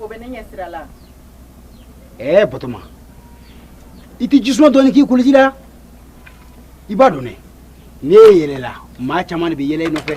o bɛ ne ɲɛ sira la ɛɛ batoma i tɛ jisuma dɔɔni k'i koliji la i b'a dɔn dɛ n'e yɛlɛla maa caman de bɛ yɛlɛ i nɔfɛ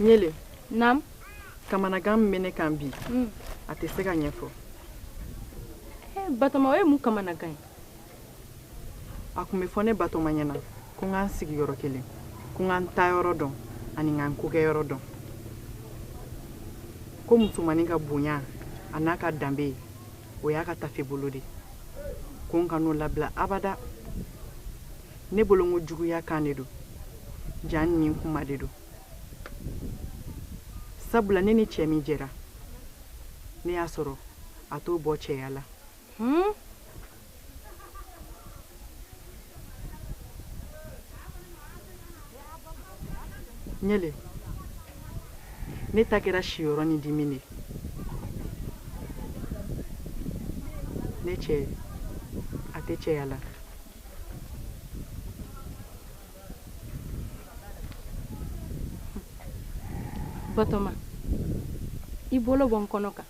ɲele naam kamanagan min bɛ ne kan bi hmm. a tɛ se ka ɲɛfɔ eh, batoma o ye mun kamanagan ye a tun bɛ fɔ ne batoma ɲɛna ko n ka n sigi yɔrɔ kelen ko n ka n taayɔrɔ dɔn ani n ka n kokɛyɔrɔ dɔn ko musomannin ka bonya a n'a ka danbe o y'a ka tafe bolo de ko n kan'o labila abada ne bolo ko juguya kan de don jaa nin kuma de don sabula ne ni cɛ min jɛra ne y'a sɔrɔ a t'o bɔ cɛya la hmm? ɲele ne ta kɛra siyɔrɔ ni dimi de ne cɛ a tɛ cɛya la batoma i bolo bɔ n kɔnɔ kan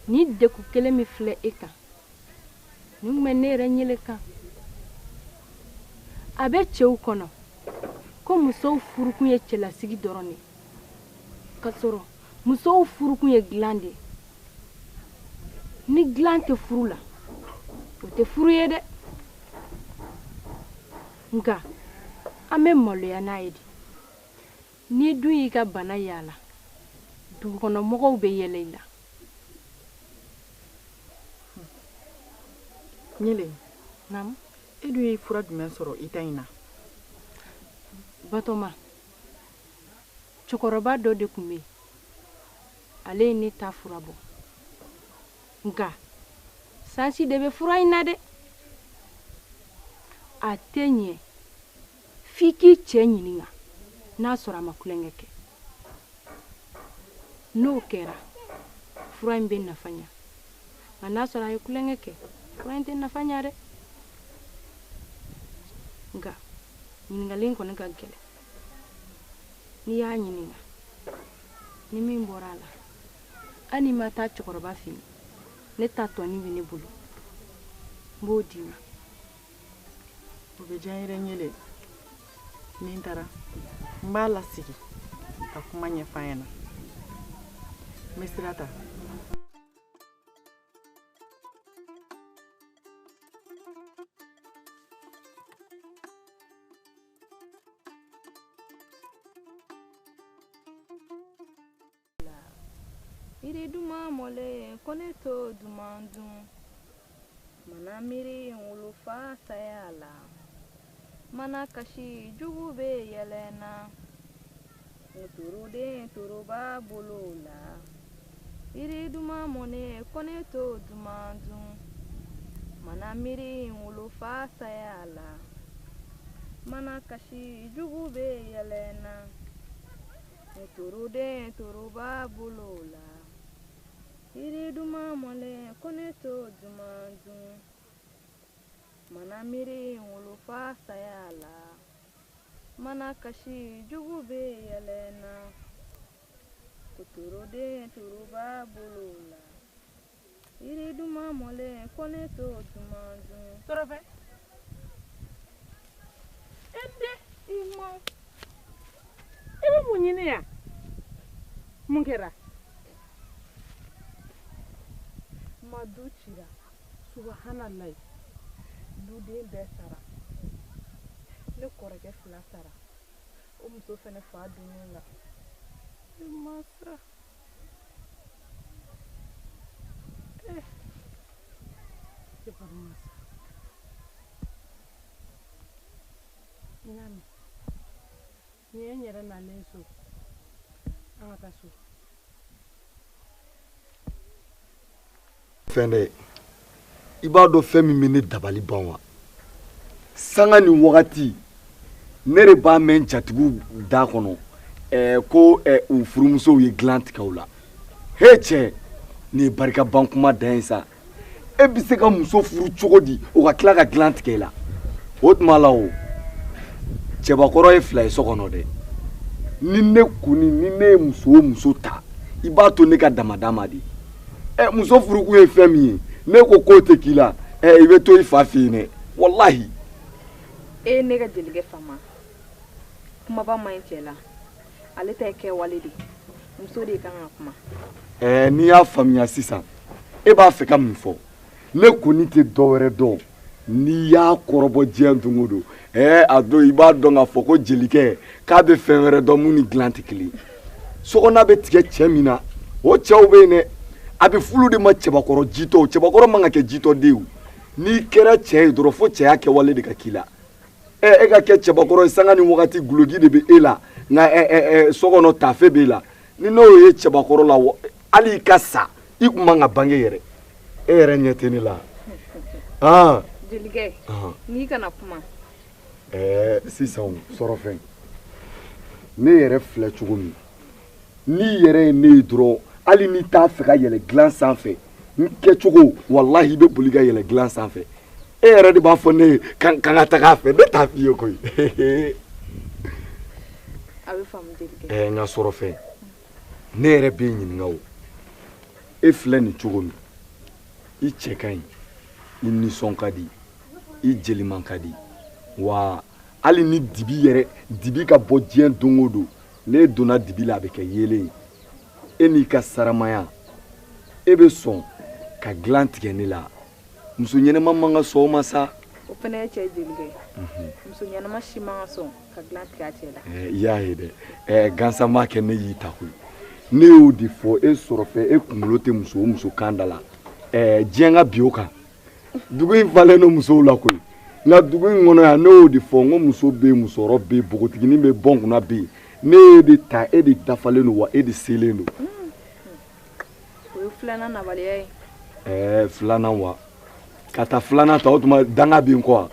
nin degun kelen min filɛ e kan nin tun bɛ ne yɛrɛ ɲele kan a bɛ cɛw kɔnɔ ko musow furukun ye cɛlasigi dɔrɔn de k'a sɔrɔ musow furukun ye dilan de ye ni dilan tɛ furu la o tɛ furu ye dɛ nka an bɛ maloya n'a ye de n'i dun y'i ka bana yaala dugukɔnɔmɔgɔw bɛ yɛlɛ i la ɲele e dun ye fura jumɛn sɔrɔ i ta in na batoma cɛkɔrɔba dɔ de tun bɛ yen ale ye ne ta fura bɔ nka sansi de bɛ fura in na dɛ a tɛ ɲɛ f'i k'i cɛ ɲininka n'a sɔrɔ a ma kulonkɛ kɛ n'o kɛra fura in bɛ nafa ɲa nka n'a sɔrɔ a ye kulonkɛ kɛ fura in tɛ nafa ɲa dɛ nka ɲininkali in kɔni ka gɛlɛn n'i y'a ɲininka ni min bɔra a la hali n'i ma taa cɛkɔrɔba fɛ yen ne ta dɔɔni bɛ ne bolo n b'o d'i ma o bɛ diya n yɛrɛ n yɛlɛ ni n taara n b'a lasigi ka kuma ɲɛf'a ɲɛna n bɛ sira ta yiri duman mɔlen ko ne t'o duman dun mana miiri n wolofa saya la mana kasi jugu bɛ yɛlɛ n na Toroden toroba bolo la yiri duman mɔnen ko ne t'o duman dun mana miiri wolofa saya la mana kasi jugu bɛ yɛlɛ n na toroden toroba bolo la yiri duman mɔnen ko ne t'o duman dun mana miiri wolofa saya la mana kasi jugu bɛ yɛlɛ n na ko toroden toroba bolo la yiri duman mɔlen ko ne t'o duman dun tɔrɔfɛ e den i ma i bɛ mun ɲini yan mun kɛra ma du cira subahanallayi duden bɛɛ sara ne kɔrɔkɛ fila sara o muso fɛnɛ fa donnen la ne ma sa eh ne kɔni ma sa n y'a mɛn Ni ye n yɛrɛ nalen so an ka taa so fɛn dɛ i b'a dɔn fɛn min bɛ ne dabali ban wa sanga ni wagati ne de b'a mɛn jatigiw da kɔnɔ eh, ko eh, u furumusow ye dilan tigɛ u la he cɛ nin ye barikaban kuma dan ye sa e bɛ se ka muso furu cogo di o ka tila ka dilan tigɛ i la o tuma la o cɛbakɔrɔ ye fila ye so kɔnɔ dɛ ni ne kɔni ni ne ye muso o muso ta i b'a to ne ka damada ma de ɛ muso furukun ye fɛn min ye n'e ko k'o tɛ k'i la ɛ i bɛ to i fa fɛ yen dɛ walahi. e ye ne ka jelikɛ faama kumaba man ɲi cɛ la. ale ta ye kɛwale de ye muso de kan ka kuma ɛɛ ne y'a faamuya sisan e b'a fɛ ka min fɔ ne kɔni tɛ dɔ wɛrɛ dɔn n'i y'a kɔrɔbɔ diɲɛ don o don ɛɛ a don i b'a dɔn k'a fɔ ko jelikɛ k'a bɛ fɛn wɛrɛ dɔn mun ni dilan tɛ kelen ye sokɔnɔna bɛ tigɛ cɛ min na o cɛw bɛ yen dɛ a bɛ f'olu de ma cɛbakɔrɔ jitɔ cɛbakɔrɔ man ka kɛ jitɔ de ye o n'i kɛra cɛ ye dɔrɔn fo cɛya kɛwale de ka k'i la e ka kɛ cɛbakɔrɔ ye sanga ni wagati guloki de bɛ e la nka so kɔnɔ taafe b'e la ni n'o ye cɛbakɔrɔ la hali i ka sa i tun man ka bange yɛrɛ e yɛrɛ ɲɛ tɛ ne la aa jelikɛ n'i kana kuma ɛɛ sisan sɔrɔfɛ ne yɛrɛ filɛ cogo min n'i yɛrɛ ye ne ye dɔrɔn hali n'i t'a fɛ ka yɛlɛ dilan sanfɛ n kɛcogo walahi i bɛ boli ka yɛlɛ dilan sanfɛ e yɛrɛ de b'a fɔ ne ye k'an ka taga a fɛ ne t'a f'i ye koyi a bɛ faamu jelikɛ ɛɛ n ka sɔrɔfɛ ne yɛrɛ b'i ɲininka o e filɛ nin cogo min i cɛ ka ɲi i nisɔn ka di i jeli man ka di wa hali ni dibi yɛrɛ dibi ka bon diɲɛ don o don n'e donna dibi la a bɛ kɛ yeelen ye e n'i ka saramaya e bɛ sɔn ka dilan tigɛ ne la muso ɲɛnɛma man ka sɔn o ma sa o fana ye cɛ jelikɛ ye mhm. muso ɲɛnɛma si man ka sɔn ka dilan tigɛ a cɛ la eh, i y'a ye dɛ eh, gansan m'a kɛ ne y'i ta koyi ne y'o de fɔ e sɔrɔfɛ e kunkolo tɛ muso o muso kan da la eh, diɲɛ ka bin o kan dugu in falen don musow la koyi nka dugu in kɔnɔ yan ne y'o de fɔ n ko muso bɛ yen musokɔrɔ bɛ yen npogotiginin bɛ bɔn kunna bɛ yen ne y'e de ta e de dafalen don wa e de selen don. o ye filanan nabaliya ye. ɛɛ filanan wa ka taa filanan ta o tuma danga bɛ n kɔ wa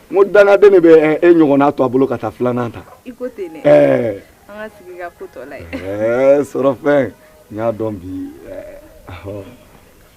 n ko dangaden de bɛ e ɲɔgɔnna to a bolo ka taa filanan ta. i ko ten dɛ. ɛɛ. an ka sigi ka ko tɔ lajɛ. ɛɛ sɔrɔfɛ n y'a dɔn bi ɛɛ.